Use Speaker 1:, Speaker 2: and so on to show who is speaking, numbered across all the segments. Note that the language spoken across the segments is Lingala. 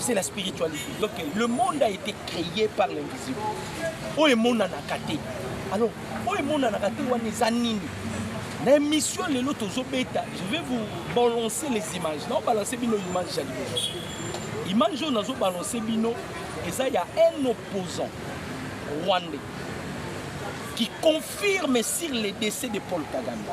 Speaker 1: c'est la spiritualité. Donc le monde a été créé par l'invisible. Oh, le monde en a gâté. Alors, oh, le monde en a gâté, on est anime. na émission lelo tozobeta je vais vous balancer les images naobalanse bino image ya liboso image oyo nazobalanse bino eza ya un opposant rwandais qui confirme sur le décès de paul kagame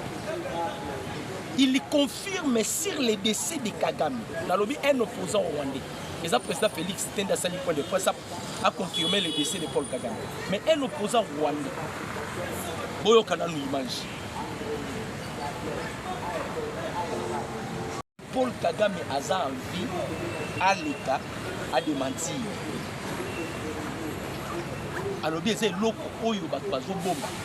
Speaker 1: Il confirme sur le décès de Kagame. Nalobi un opposant rwandais. Et ça, président Félix Tende a sali point de presse a confirmé le décès de Paul Kagame. Mais un opposant rwandais. Boyo Kananu image. Paul Kagame aza en vie à l'État à démentir. alobi eza eloko oyo bato bazobomba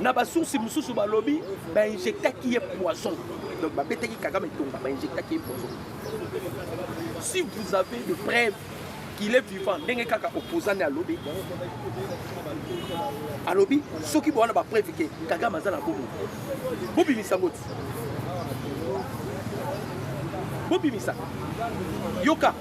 Speaker 1: na basource mosusu balobi bainjectaki ye poison donc babetaki kagame tonga bainjectaki ye poison si vous avez de preuve qu'il est vivant ndenge kaka opposane alobi alobi soki bowana bapreuve ke kagame aza na bomo bobimisa yango ti bobimisa yoka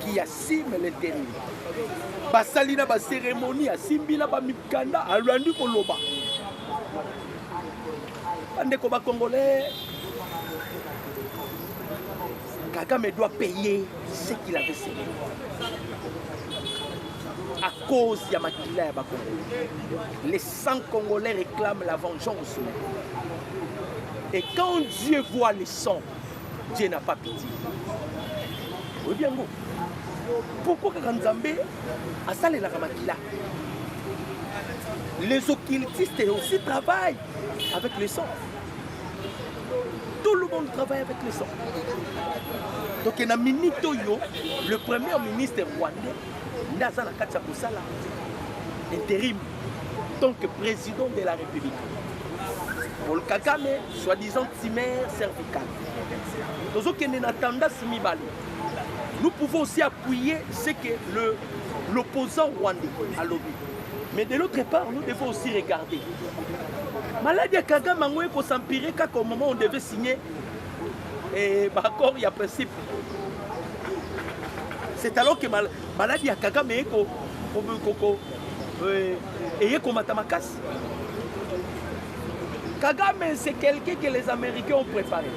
Speaker 1: qui assume le terrain basali na baseremoni asimbi na bamikanda alandi koloba bandeko bacongolais kagame doit payer ce qu'il avait semé à cause ya makila ya bacongolais les 100 congolais réclament la vengeance et quand dieu voit les 100 Dieu n'a pas pitié. Oyebi yango? Pourquoi kaka Nzambe asalelaka makila? Les occultistes aussi travaillent avec le sang. Tout le monde travaille avec le sang. Donc, na minute, le premier ministre rwandais nde aza na kati ya kosala interim tant que président de la république paul kagame soi-disant timere cervical tozokende na tendance mibale nous pouvons aussi appuyer ce que le l'opposant rwandais alobi mais de l'autre part nous devons aussi regarder maladi ya kagame yango ekosampire kaka au moment on devait signer eh, ba accord ya principe c'est alors que mal, maladi ya kagame eye ko, ko, ko, ko, euh, eye komata makasi kagame c'est quelqu'un que les américains ont préparé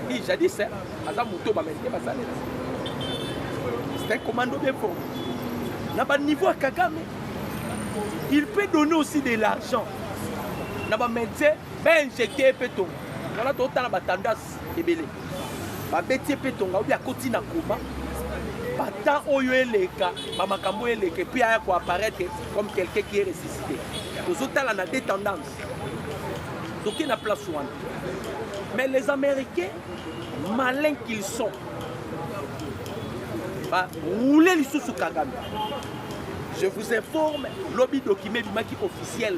Speaker 1: i jadis aza moto baméricain basalela c'est un commando bien fort na baniveau ya kagame il peut donner aussi de l'argent na bamédecin ba injecte pe tonga wana totala ba tendance ebele babeti ye mpe tonga obi akoti na koma batemp oyo eleka bamakambo oyo eleka epuis aya koapparaître comme quelqu'un qui est ressuscité tozotala na de tendance toke na place wana mais les américains malin qu'ils sont baroule lisusu kagame je vous informe lobi document ebimaki officiel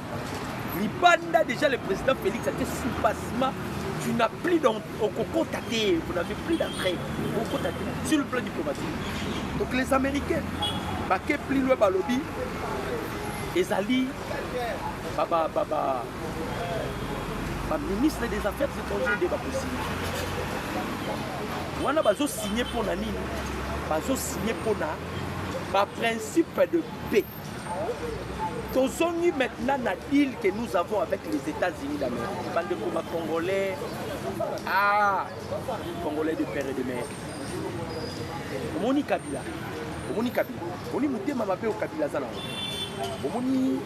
Speaker 1: libanda déjà le président félix ate soubassement tu n'as plus donc okokota te vous n'avez plus d'entrée okokota te sur le plan diplomatique donc les américains bake plus loin balobi ezali baministre des affaires étrangères nde bakosini wana bazosigne mpo na nini bazosigne mpo na baprincipe de paix tozongi maintenant na deal que nous avons avec les états-unis d'amérique bandeko ba congolais ah congolais de père et de mère omoni kabila omoni kabila omoni motema mabe oyo kabila aza nango omoni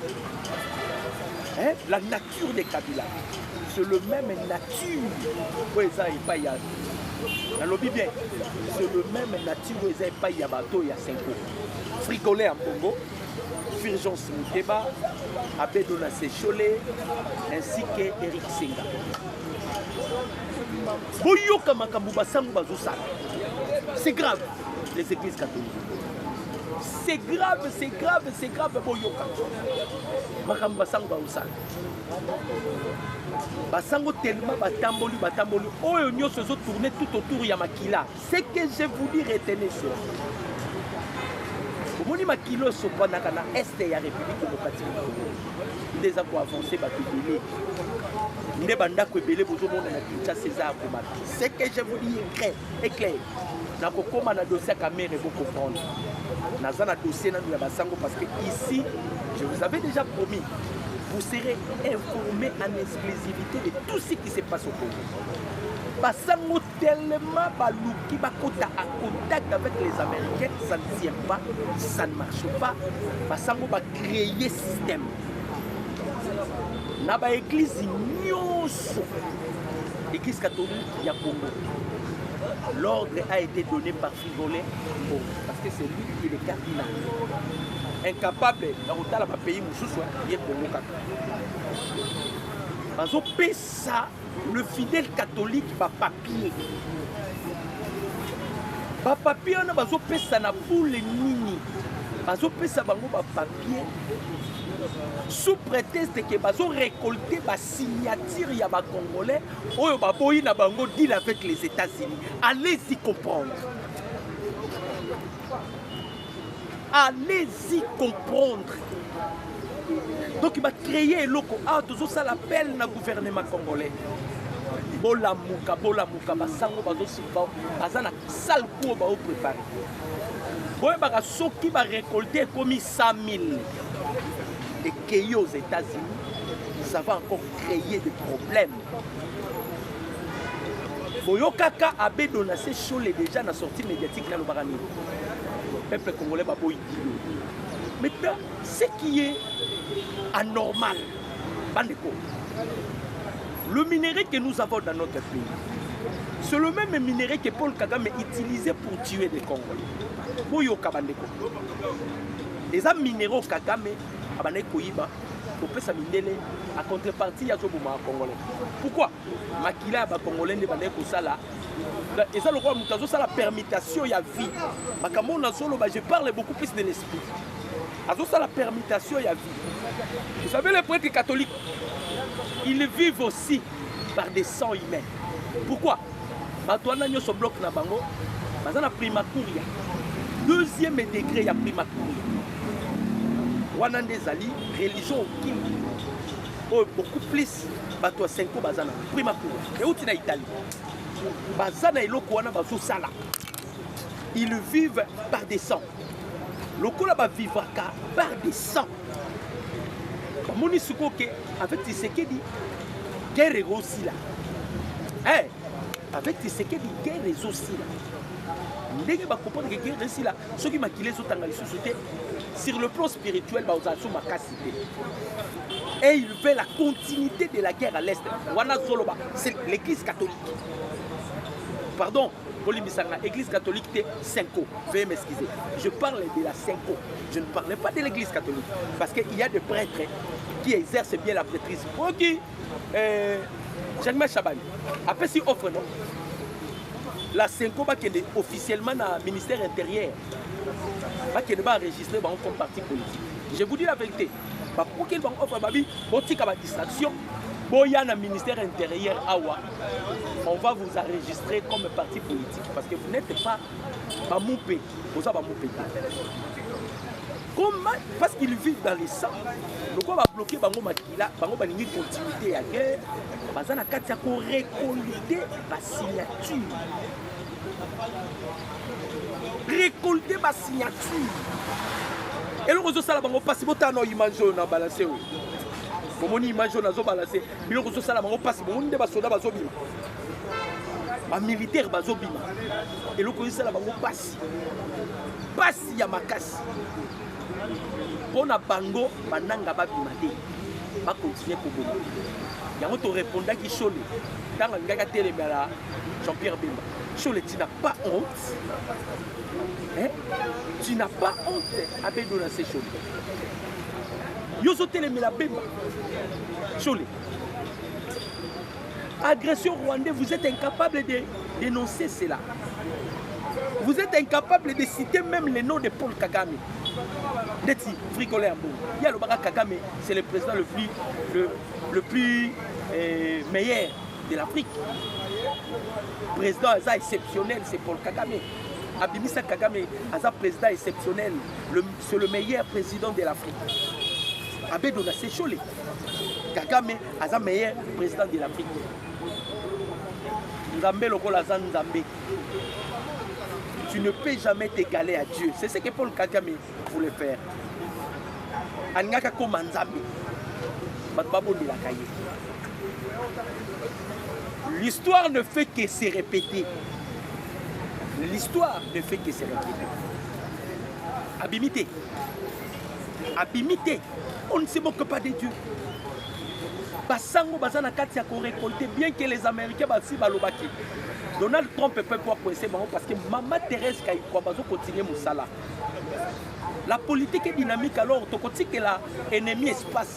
Speaker 1: hein, la nature de kabila c'est le même nature oyo eza epai ya nalobi bien c'est le même nature oyo eza epai ya bato ya senko Fricole ya Mbongo, Fulgence Muteba, Abedo na Sechole, ainsi que Eric Senga. Boyoka makambo basango bazosala. C'est grave, les églises catholiques. C'est grave, c'est grave, c'est grave, boyoka. Makambo basango bazosala. Basango tellement batamboli, batamboli, oyo nyonso ezotourne tout autour ya makila. Ce que je vous dis retenez cela. omoni makilo esopanaka na este ya république démocratique du congo nde eza koavanse bato ebele nde bandako ebele bozomona na kinshasa eza ya komaka ce que je vous dis eclair eclair nakokoma na dossier ya kamere bocomprendre naza na dossier nanu ya basango parce que ici je vous avais déjà promis vous serez informé en exclusivité de tout ce qui se passe au congo basango tellement baluki bakota a contact avec les américains ça ne tient pas ça ne marche pas basango bacreye système na baeglize nyonso église catholique ya congo l'ordre a été donné par frigolet bon, parce que c'est lui qui est le cardinal incapable ya kotala bapays mosusu ye congo kaka bazopesa Le fidèle catholique ba papier ba papier wana bazopesa na bule nini bazopesa bango ba papier sous prétexte ke bazo récolter ba signature ya ba congolais oyo baboyi na bango deal avec les états-unis allez-y comprendre allez-y comprendre donc bacreye eloko awa tozosala appel na gouvernement congolais bolamuka bolamuka basango baza na sale kuo baoprepare boyebaka soki barecolte ekomi 100 000 ekei aux états-unis ça va encore créer des problèmes boyokaka abe donase shole deja na sortie médiatique nalobaka nini peuple congolais baboyi dilo maintenant ce qui est anormal bandeko le minerai que nous avons dans notre pays c'est le même minerai que paul kagame utilisé pour tuer des congolais boyoka bandeko eza minero kagame abandaki koyiba kopesa mindele a contrepartie ya zoboma congolais pourquoi makila ya bacongolais nde bandaki kosala eza lokola moto azosala permutation ya vie makambo oyo nazoloba je parle beaucoup plus de l'esprit azosala permutation ya vie vous savez le prêtre catholique ils vivent aussi par des sangs humains pourquoi bato wana nyonso bloc na bango baza na primacuria deuxième degré ya primacuria wana nde ezali religion okimbi oyo beaucoup plus bato ya senko baza na primacuria euti na italie baza na eloko wana bazosala ils vivent par des sangs lokola ba vivaka par des sang bamoni sikoyo ke avec tisekedi guerre ekosila hey, avec tisekedi guerre ezosila ndenge bakomprendre ke guerre esila soki makila ezotanga lisusu te sur le plan spirituel bakozala so makasi te et il veut la continuité de la guerre à l'est wana zoloba c'est l'église catholique pardon bolimbisaka église catholique te cinco veuillez m'excuser je parle de la cinco je ne parlais pas de l'église catholique parce que il y a des prêtres qui exercent bien la prêtrise oki euh, jacquemain chabani apesi offre non la cinco bakende officiellement na ministère intérieur bakende baenregistre bango comme parti politique je vous dis la vérité bakokeli bango offre babi botika badistraction boya na ministère intérieur awa on va vous enregistrer comme parti politique parce que vous n'êtes pas bamupe boza bamupe comme parce qu'ils vivent dans le sang lokola babloke bango makila bango balingi continuité ya guerre baza na kati ya korecolite basignature récolter basignature eloko ezosala bango mpasi botala na image oyo na balase oyo bomoni image oyo nazobalase biloko ezosala bango mpasi bomoni nde basoda bazobima bamilitaire bazobima eloko ezosala bango mpasi mpasi ya makasi mpo na bango bananga babima te bakontinue koboma yango torepondaki shole ntango alingaki atelemela jean pierre bemba shole tina pas honte eh? tu n'as pas honte abedona se shole yo ozotelemela bemba shole agression rwandais vous êtes incapable de dénoncer cela vous êtes incapable de citer même le nom de paul kagame ndeti fricoleur mbo ye alobaka kagame c'est le président le plus, le, le plus euh, meilleur de l'afrique président aza exceptionnel c'est paul kagame abimisa kagame aza président exceptionnel le C'est le meilleur président de l'Afrique. Abedo na sechole. Kagame aza meilleur président de l'Afrique. Nzambe lokola aza Nzambe. Tu ne peux jamais t'égaler à Dieu. C'est ce que Paul Kagame voulait faire. Alingaka koma Nzambe. Bato babondelaka ye. L'histoire ne fait que se répéter. l'histoire ne fait que se répéter abimi te abimi te on ne se moque pas de dieu basango baza na kati ya korekolte bien que les américains basi balobaki donald trump peut pouvoir coincer bango parce que mama thérèse kaikwa bazo continue mosala la politique est dynamique alors tokotikela ennemi espace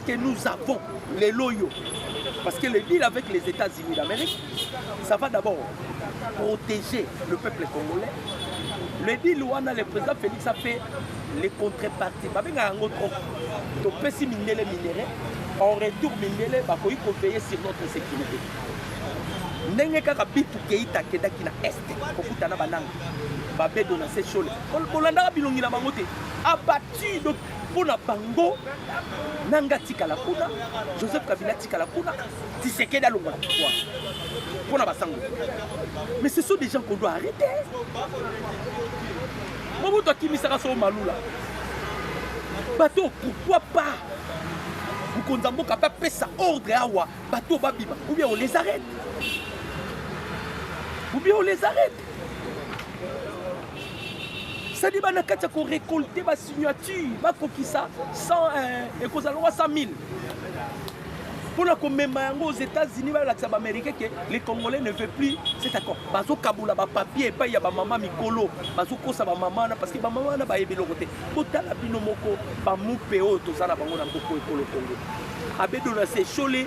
Speaker 1: que nous avons les loyaux parce que le deal avec les États-Unis d'Amérique ça va d'abord protéger le peuple congolais le deal wana le président Félix a fait les contreparties babenga yango trop topesi mindele minere en retour mindele bakoki koveille sur notre sécurité ndenge kaka bitu keita akendaki na est kokutana bananga babedo na sechole bolandaka bilongi na bango te abattu mpo na bango nanga atikala kuna joseph kabila atikala kuna tisekedi alongwa na pouvoir mpo na basango mais ce sont des gens qu'on doit arrêter mobutu akimisaka soo malula bato oyo pourquoi pas mokonzi ya mboka mpe apesa ordre awa bato oyo babima ou bien on les arrête ou bien on les arrête sadi bana kati ya korekolte basignature bakokisa eh, ekozala lwa 100 000 mpona komema yango aux états-unis balakisa baaméricain ke le congolais ne veut plus cet accord bazokabola bapapier epai ya bamama mikolo bazokosa bamama wana parce que bamama wana bayebi eloko te botala bino moko bamupe oyo toza na bango na mboko ekolo kongo abedo na sechole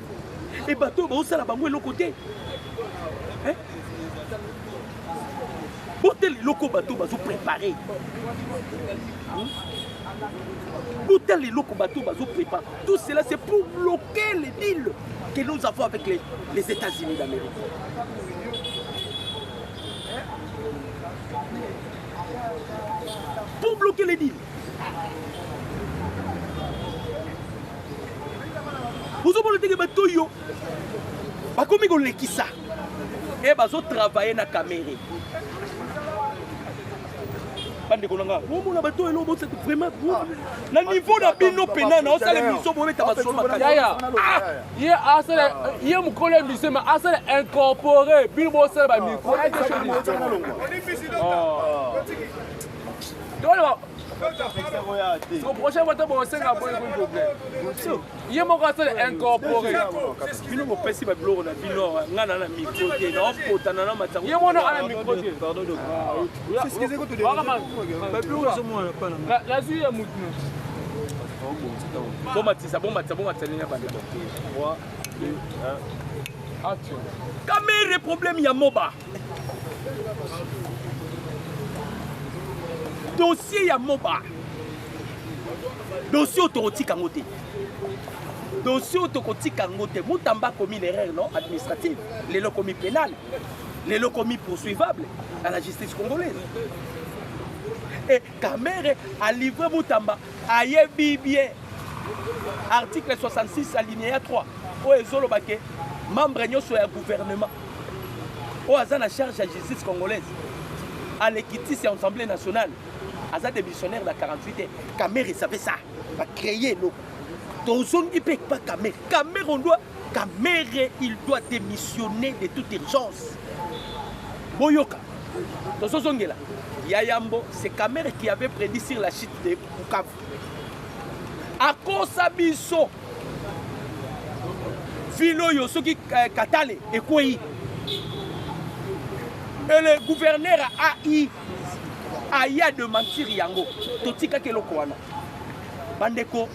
Speaker 1: e bato oyo baosala bango eloko te eh? botela eloko bato bazo prépare botela eloko bato bazo prépare tout cela c'est pour bloquer les deals que nous avons avec les, les états-unis d'amérique pour bloquer les deals ozomona ndenge bato oyo bakomi kolekisa e eh, bazotravaille na kamere bandeko na nga omona bato oyo eloo bosatu vraiment ah. na niveau na bino mpena na osala émission bobeta basolo makaya
Speaker 2: ye mokolo émission ma asala incorpore bino bosala bamicro ah. toloba au prochain vote bosenga boye ko problème ye moko asala incorporé bino bopesi babiloko na bino nga na na micro te naopotana na matango ye mona ana micro te nazwi ya motu bomatisa bomatisa bomatisa ndenge ya banda kamere problème ya moba dossier ya moba dossier oyo tokotika yango te dossier oyo tokotika yango te mutamba akomi na erreur non administrative lelo akomi pénale lelo akomi poursuivable à la justice congolaise e kamere alivre mutamba ayebi bien article 66 alinéa 3 oyo ezoloba ke membre nyonso ya gouvernement oyo aza na charge ya justice congolaise alekitisi ya assemblée nationale aza démissionnaire na 48 te kamere savait ça bacreye eloko tozongi mpe epa kamere kamere on doit kamere il doit démissionner de toute urgence boyoka tozozongela ya yambo c'est kamere qui avait prédit sur la chute de bukavu akosa biso ville oyo soki eh, katale ekwei et le gouverneur ai aya de mentir yango totikaki eloko wana bandeko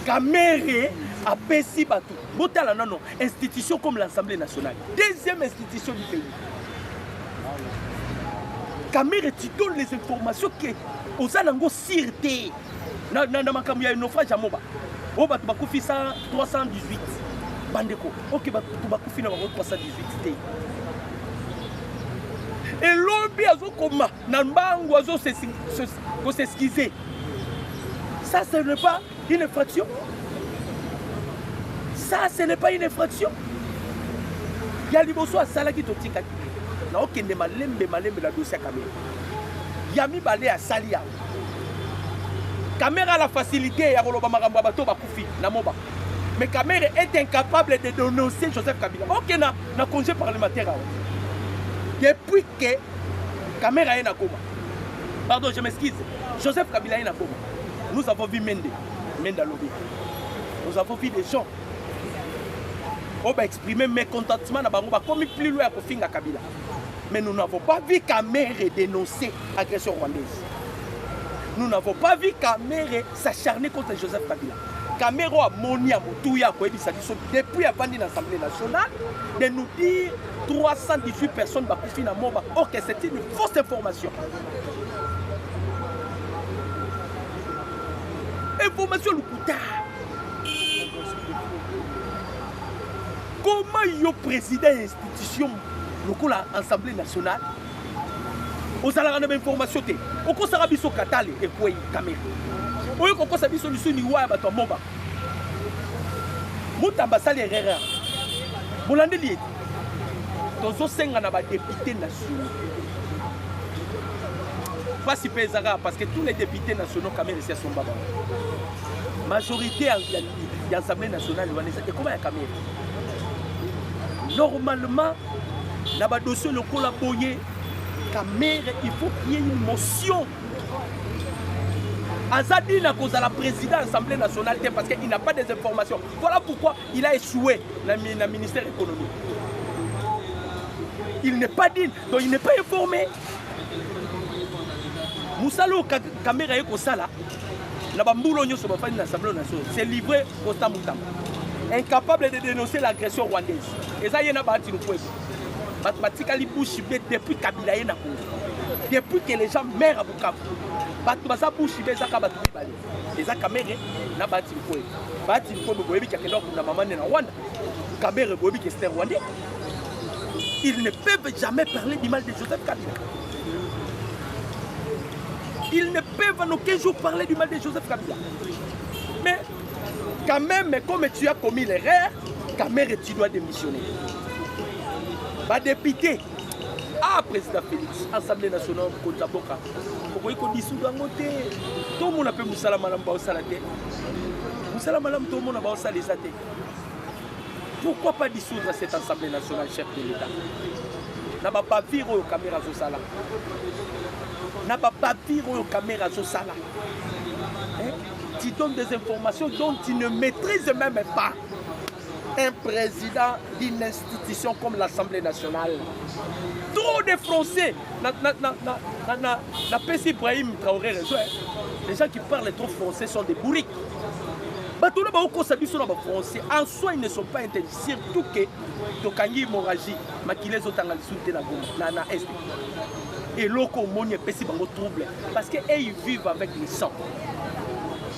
Speaker 2: kamere apesi bato botala nano institution comme l'assemblée nationale deuxième institution du pays Kamere, tu donnes les informations que oza nango sire te na, na, na makambo ya naufrage ya moba oyo bato bakufi 318 bandeko oke bato bakufi na bango 318 te elobi azokoma na mbangu azokoseskize ça ce n'est pas Une infraction Ça, ce n'est pas une infraction. ya liboso asalaki totikaki naokende malembe malembe na dosi ya kamera ya mibale asali yango kamera la facilité ya koloba makambo ya bato bakufi na moba mais kamera est incapable de dénoncer joseph kabila oke na, na congé parlementaire awa depuis que kamera ye nakoma pardon je m'excuse joseph kabila ye nakoma Nous avons vu Mende, Mende alobi. Nous avons vu des gens oyo ba exprimer mécontentement na bango bakomi plus loin ya kofinga Kabila. Mais nous n'avons pas vu Kamere dénoncer agression rwandaise. Nous n'avons pas vu Kamere s'acharner contre Joseph Kabila. Kamere oyo amoni ya motuya akoyebisa biso depuis avandi na Assemblée nationale de nous dire 318 personnes bakufi na moba. Ok, c'est une fausse information. information ya lokuta koma yo président ya institution lokola assemblée nationale ozalaka na bainformation te okosaka biso katale ekwei kamere oye kokosa biso lisu liwa ya bato ya moba mutamba asali erreur bolandeli ete tozosenga na badepute nationaux mpasi mpe ezaka parce que tous les députés nationaux kamere esi asomba bango majorité ya assemblée nationale wana eza ekoma ya kamere normalement na badossier lokola boye kamere il faut qu'il y ait une motion aza dina kozala président assemblée nationale te parce qu'il n'a pas des informations voilà pourquoi Il a échoué na, na ministère économique. Il n'est pas digne, donc il n'est pas informé. mosala oyo kamera ye kosala na bambulo nyonso bafandi na assemblée nationale c'est livré constant mutamba incapable de dénoncer l'agression rwandaise eza ye na baati lukwebo bato batikali bushi be depuis kabila ye na congo depuis que les gens maire ya bukavu bato baza bushi be ezaka bato mibale eza kamere na bahati likoye bahati likoye boyebi kakende akunda mama nde na rwanda kamere boyebi ke ster rwandais ils ne peuvent jamais parler du mal de joseph kabila ils ne peuvent en aucun jour parler du mal de joseph kabila mais quand même comme tu as commis l'erreur kamere tu dois démissionner badepute ah président félix assemblée nationale mokonzi ya mboka okoki kodisudu yango te tomona mpe mosala malamu baosala te mosala malamu tomona baosala eza te pourquoi pas dissoudre cette assemblée nationale chef de l'état na babavire oyo kamera azosala na babavire oyo kamera azosala tu donnes des informations dont tu ne maîtrises même pas un président d'une institution comme l'Assemblée nationale. Trop de Français. Napesi Ibrahim Traoré raison. Les gens qui parlent trop français sont des bourriques. bato na baokosa biso na bafrançais en soi ils ne sont pas intelli surtout ke tokangi hémorragie makila ezotanga lisusu te na goma na, na est eloko omoni epesi bango trouble parce que ey vivent avec le sang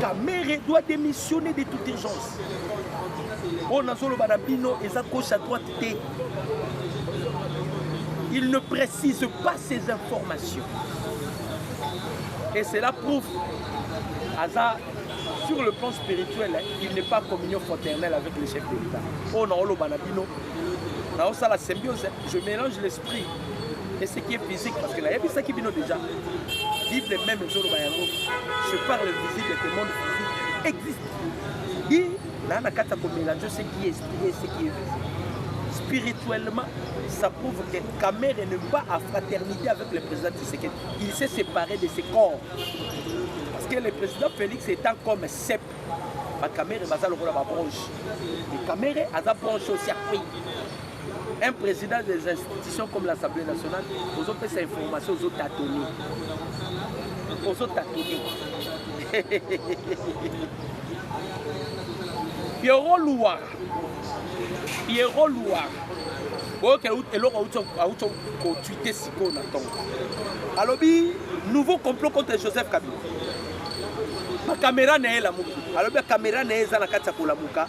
Speaker 2: Kamere doit démissionner de toute urgence. oyo nazoloba na bino eza gauche à droite te il ne précise pas ces informations et cela prouve aza sur le plan spirituel il n'est pas communion fraternelle avec le chef de l'état oyo naoloba na bino naosala symbiose je mélange l'esprit et ce qui est physique parce que nayebisaki bino déjà bible même ezoloba yango je parle visible que monde physique existe ye naa na kati ya komelange ce qui est esprit et ce qui est visible spirituellement ça prouve que Kamere ne pas à fraternité avec le président Tshisekedi il s'est séparé de ses corps parce que le président Félix étant comme cep bakamere baza lokola babranche kamere aza branche osi akwei un président des institutions comme l'assemblée nationale ozopesa information ozotatoni ozotatoni pierrot luwara pierrot luwara oyoka eloko auti kotwite sikoyo na ntongo alobi nouveau complot contre joseph kabila bakamera na ye elamuki alobi bakamera na ye eza na kati ya kolamuka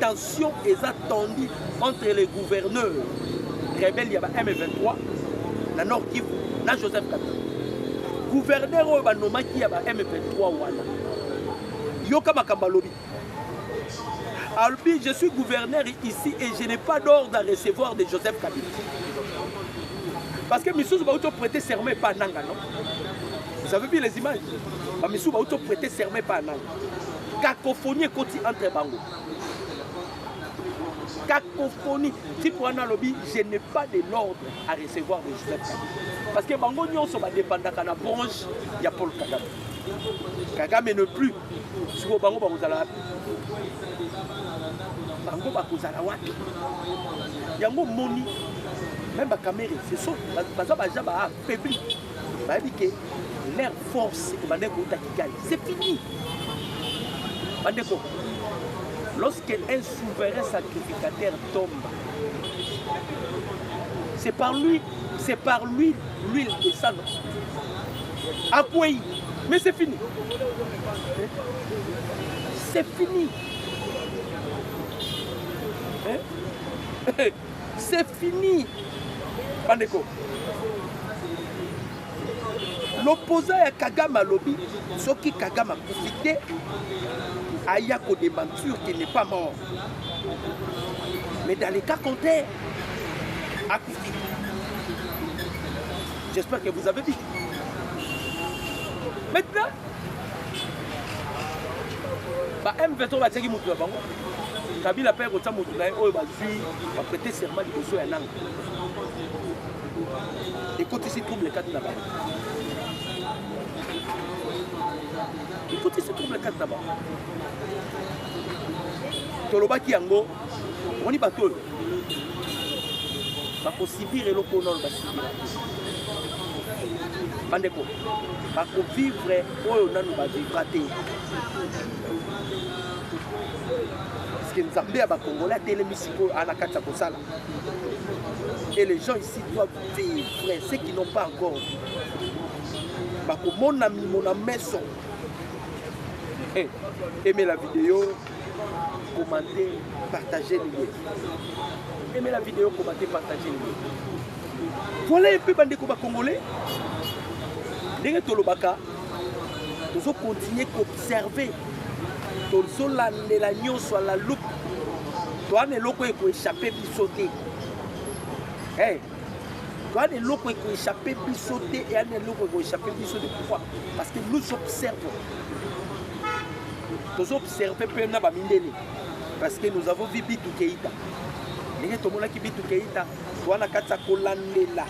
Speaker 2: Tension eza tendue entre les gouverneurs rebelles ya ba M23 na Nord Kivu na Joseph Kabila. Gouverneur oyo banomaki ya ba M23 wana yoka makambo alobi alobi je suis gouverneur ici et je n'ai pas d'ordre à recevoir de Joseph Kabila parce que misusu bauti prêter serment epa nanga non vous avez vu les images bamisusu bauti prêter serment epa nanga cacophonie ekoti entre bango cacophonie type wana alobi je n'ai pas de l'ordre à recevoir de joseph kabila parce que bango nyonso badepandaka na branche ya paul kagame kagame ne plus sikoyo bango bakozala wapi bango bakozala wapi yango omoni meme bakamere ce sont baza baja baaffaibli bayebi ke leur force ebandaki kouta kigali c'est fini bandeko lorsque un souverain sacrificateur tombe c'est par lui c'est par lui l'huile de sang akwei mais c'est fini c'est fini hein? C'est fini bandeko l'opposant ya kagame alobi soki kagame akufi te aya kodementure qu'il n'est pas mort mais dans le cas contraire akufi j'espère que vous avez dit maintenant ba m23 batiaki moto na bango kabila mpe kotya moto na ye oyo bazwi baprete serment liboso ya nanga ekotisi trouble kati na bango ekotisi trouble kati na bango tolobaki yango omoni bato oyo bakosibire eloko ona oyo basibira bandeko bakovivre oyo nanu bavivra te parceke nzambe ya bakongole atelemi sikoyo ana kati ya kosala et les gens ici doivent vivre ceux qui n'ont pas encore bakomona mimo na meso eh, aimez la vidéo commente partage liye aimez la vidéo commente partage liye voilà mpe bandeko bakongole ndenge tolobaka tozo continuer koobserve tozolandela nyonso ala loupe towana eloko ekoechappe biso te hey. towana eloko ekoechappe biso te eyana eloko ekoechappe biso te pourquoi parce que nous observons tozoobserve mpe na bamindele parce que nous avons vu bitu keita ndenge tomonaki bitu keita towana kati ya kolandela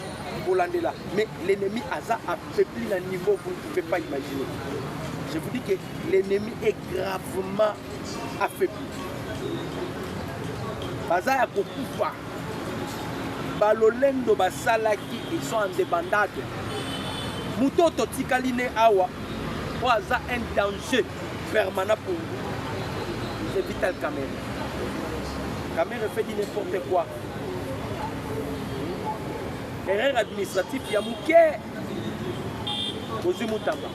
Speaker 2: kolandela mais l'ennemi aza C'est plus un niveau que vous ne pouvez pas imaginer. Je vous dis que l'ennemi est gravement affaibli. baza ya kokufa balolendo basalaki ils sont indépendable moto oyo totikali ne awa oyo aza un danger permanent pour vous c'est vital camere camere fait du n'importe quoi Erreur administratif ya muke ozwi mutamba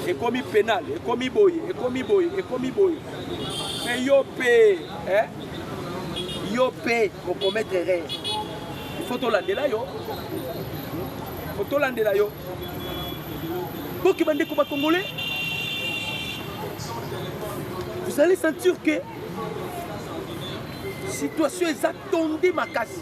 Speaker 2: ekomi penal ekomi boye ekomi boye ekomi boye me yo mpe eh? yo mpe okometre erreur ifo tolandela yo fo tolandela yo boki bandeko bakongole vous allez sentir que situation eza tonde makasi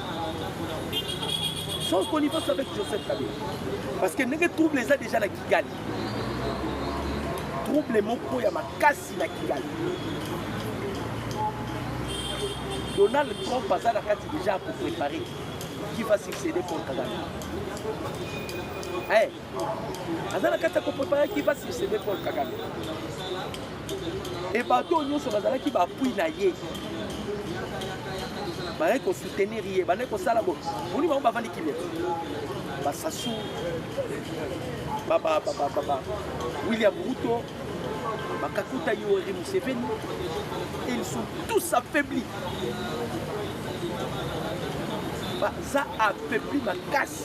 Speaker 2: sans connivence avec joseph kabila parce que ndenge trouble eza déjà na kigali trouble moko ya makasi na kigali donald trump aza na kati déjà akoprépare qui va succéder paul kagame hey. Eh, aza na kati ya koprepare ki basi sebe paul kagame e bato nyonso bazalaki bapui na ye bazalaki kosoutenir ye bandaki kosala bo boni bango bavandi kimia basasu william ruto bakakuta yoweri museveni et ils sont tous affaiblis baza affaibli makasi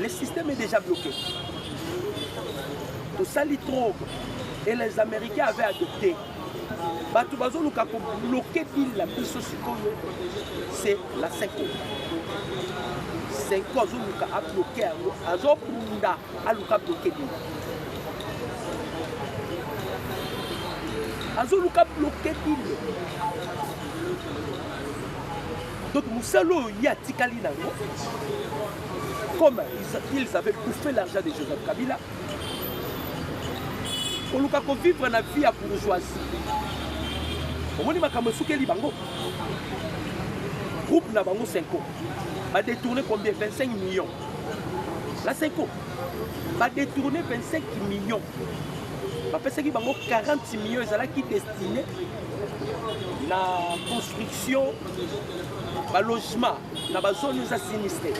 Speaker 2: Le système est déjà bloqué. Tout ça, les trop. Et les Américains avaient adopté. bato bazoluka kobloke bile na biso sikoyo se la seko seko azoluka abloke yango azobunda aluka bloke bile azoluka bloke bile Donc mosala oyo ye atikali nango comme ils avaient bouffé l'argent de Joseph Kabila koluka kovivre na vie ya bourgeoisie omoni makambo esukeli bango groupe na bango senko badetourne combien 25 millions na senko badetourne 25 millions bapesaki bango 40 millions ezalaki destine na construction balogement na bazone eza sinistre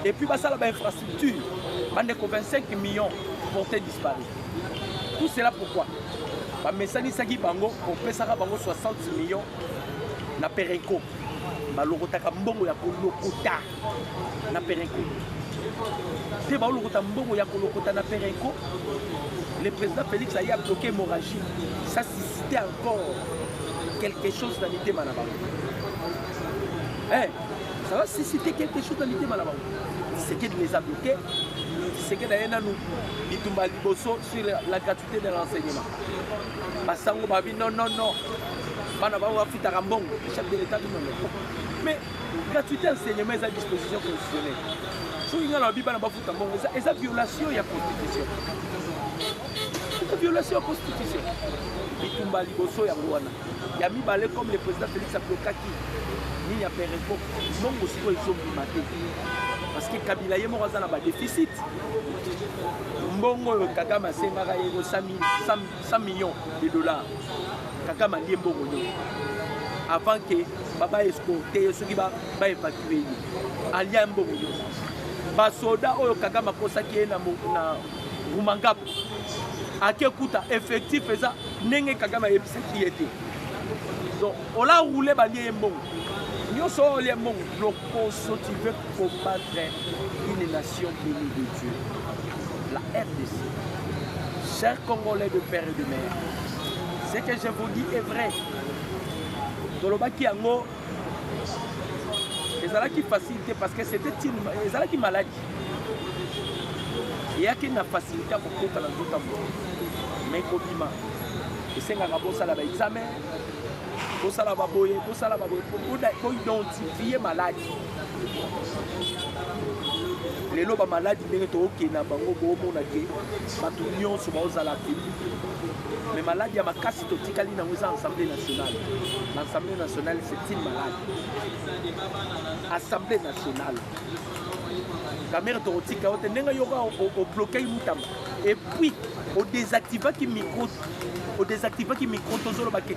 Speaker 2: epuis basala bainfrastructure bandeko 25 millions porte disparu tout cela pourquoi bamesanisaki bango kopesaka bango 60 millions na pereco balokotaka mbongo ya kolokota na perenco te baolokota mbongo ya kolokota na perenco le président félix aye abloke hémorragie ça suscite encore quelque chose na mitema na bango eh, ça va suscite quelque chose na mitema na bango tisekedi les abloke tisekedi aye nanu bitumba liboso sur la gratuité de l'enseignement basango babi non non non bana bango bafutaka mbongo chef de l'état du monde mais gratuité ya enseignement eza disposition constitutionnelle soki ngai nalobi bana bafuta mbongo eza violation ya constitution eza violation ya constitution bitumba liboso yango wana ya mibale comme le président félix ablokaki nini ya pereko mbongo sikoyo ezobima te parce que kabila ye moko aza na badeficit mbongo oyo kagame asengaka ye ko 100 100 millions de dollars kaka malie mbongo nyonso avant que baba escorte ye soki baevacue ye alia mbongo nyonso basoda oyo kagame akosaki ye na rumangapo ake kuta effectif eza ndenge kagame ayebisaki ye te donc ola roule balie ye mbongo nyonso oyo olie mbongo lokoso tu veux combattre une nation nation bénie de Dieu, la RDC, chers Congolais de père et de mère, ce que je vous dis est vrai. Tolobaki yango ezalaki facilité parce que c'était une ezalaki maladie. eyaki na facilité ya kokota na nzoto yango mai kobima esengaka bosala baexamen bosala baboye bosala baboye boidentifie maladi lelo bamaladi ndenge tookende na bango boomona te bato nyonso baozala te mais maladi ya makasi totikali nango eza assemblée nationale na assemblée nationale c'est une malade assemblée nationale kamere tokotika yo te ndenge yoka oblokaki mutamba epuis odesactivaki micro odesactivaki micro tozolobake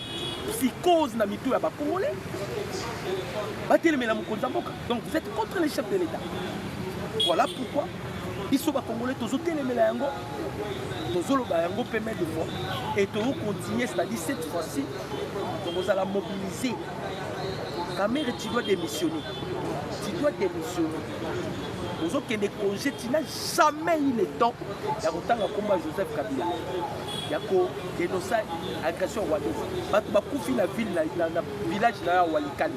Speaker 2: psychose na mitu ya ba congolais batelemela mokonzi ya mboka donc vous êtes contre les chefs de l'état voilà pourquoi biso bakongole tozotelemela yango tozoloba yango mpe mai de fois et tozocontinue c'est-à-dire cette fois-ci tokozala mobilise kamere tu dois démissionner tu dois démissionner ozokende congé tina jamais il est temps ya kotanga nkomba joseph kabila ya ko denoncer agression rwandaise bato bakufi na ville na, na, na village na ya walikale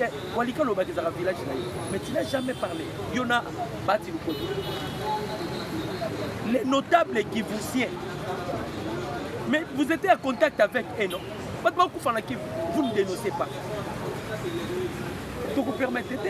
Speaker 2: eh, walikale oyo bakizaka village na ye mais tu n'as jamais parlé yo na bati lukodi les notables kivusiens mais vous étiez en contact avec eux non bato bakufa na kivu vous ne dénoncez pas tokopermettre te